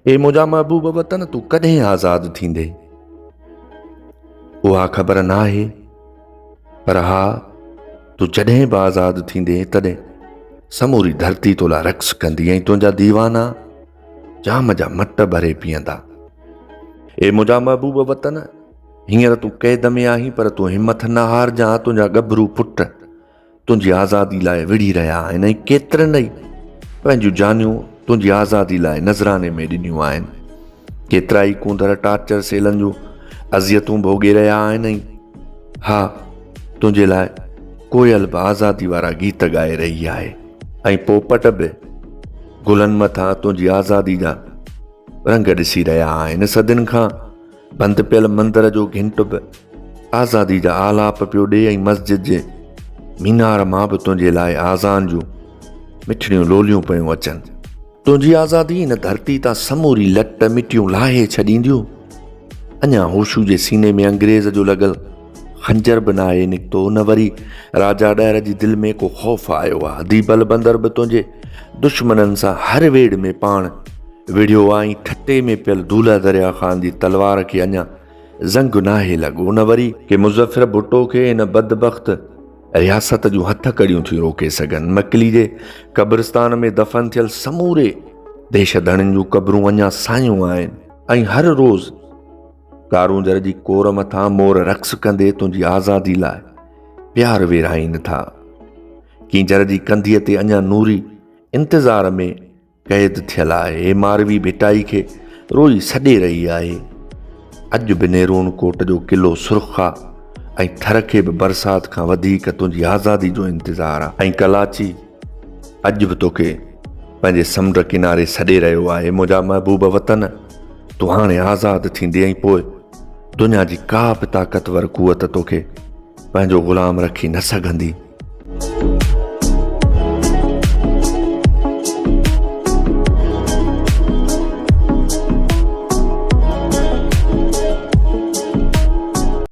اي منهنجا محبوب وطن تون ڪڏهن آزاد ٿيندي؟ اها خبر ناهي پر ها تون جڏهن به آزاد ٿيندي تڏهن سموري ڌرتي تو لا رقص ڪندي ۽ تنهنجا ديوانا جام جا مٽ ڀري پيئندا اي منهنجا محبوب وطن هينئر تون قيد ۾ آهين پر تون همٿ نه هارجان تنهنجا ڳڀرو پٽ تنهنجي آزادي لاء وڙهي رهيا آهن ۽ ڪيترن ئي پنهنجون جانيون تنهنجي آزادي لاء نذراني ۾ ڏنيون آهن. ڪيترا ئي ڪونڌر ٽارچر سيلن جون اذيتون ڀوڳي رهيا آهن ۽ ها تنهنجي لاء ڪوئل به آزادي وارا گيت ڳائي رهي آهي ۽ پوپٽ به گلن مٿان تنهنجي آزادي جا رنگ ڏسي رهيا آهن. صدين کان بند پيل مندر جو گهنٽ به آزادي جا آلاپ پيو ڏي ۽ مسجد جي مينار مان به تنهنجي لاء آزان جون مٺڙيون لوليون پيون اچن تنهنجي آزادي هن ڌرتي تان سموري لٽ مٽيون لاهي ڇڏينديون اڃا هوشو جي سيني ۾ انگريز جو لڳل خنجر به ناهي نڪتو نه وري راجا ڏهر جي دل ۾ ڪو خوف آيو آ دي بل بندر به تنهنجي دشمنن سان هر ويڙ ۾ پاڻ وڙهيو آ ۽ ٺٽي ۾ پيل دولا دريا خان جي تلوار کي اڃا زنگ ناهي لڳو نه وري ڪي مظفر ڀٽو کي ان بدبخت رياست جون هٿ ڪڙيون ٿيون روڪي سگهن مڪلي جي قبرستان ۾ دفن ٿيل سموري ديش ڌڻين جون قبرون اڃا سايون آهن ۽ هر روز ڪارونجهر جي ڪور مٿان مور رقص ڪندي تنهنجي آزادي لاء پيار ويرائين ٿا ڪينجهر جي ڪنڌيء تي اڃا نوري انتظار ۾ قيد ٿيل آهي ماروي ڀٽائي کي روئي سڏي رهي آهي اڄ به نيرون ڪوٽ جو قلعو سرخ آهي ۽ ٿر کي به برسات کان وڌيڪ تنهنجي آزادي جو انتظار آهي ۽ ڪلاچي اڄ به توکي پنهنجي سمنڊ ڪناري سڏي رهيو آهي منهنجا محبوب وطن تو هاڻي آزاد ٿيندي ۽ پوء دنيا جي ڪا به طاقتور قوت توکي پنهنجو غلام رکي نه سگهندي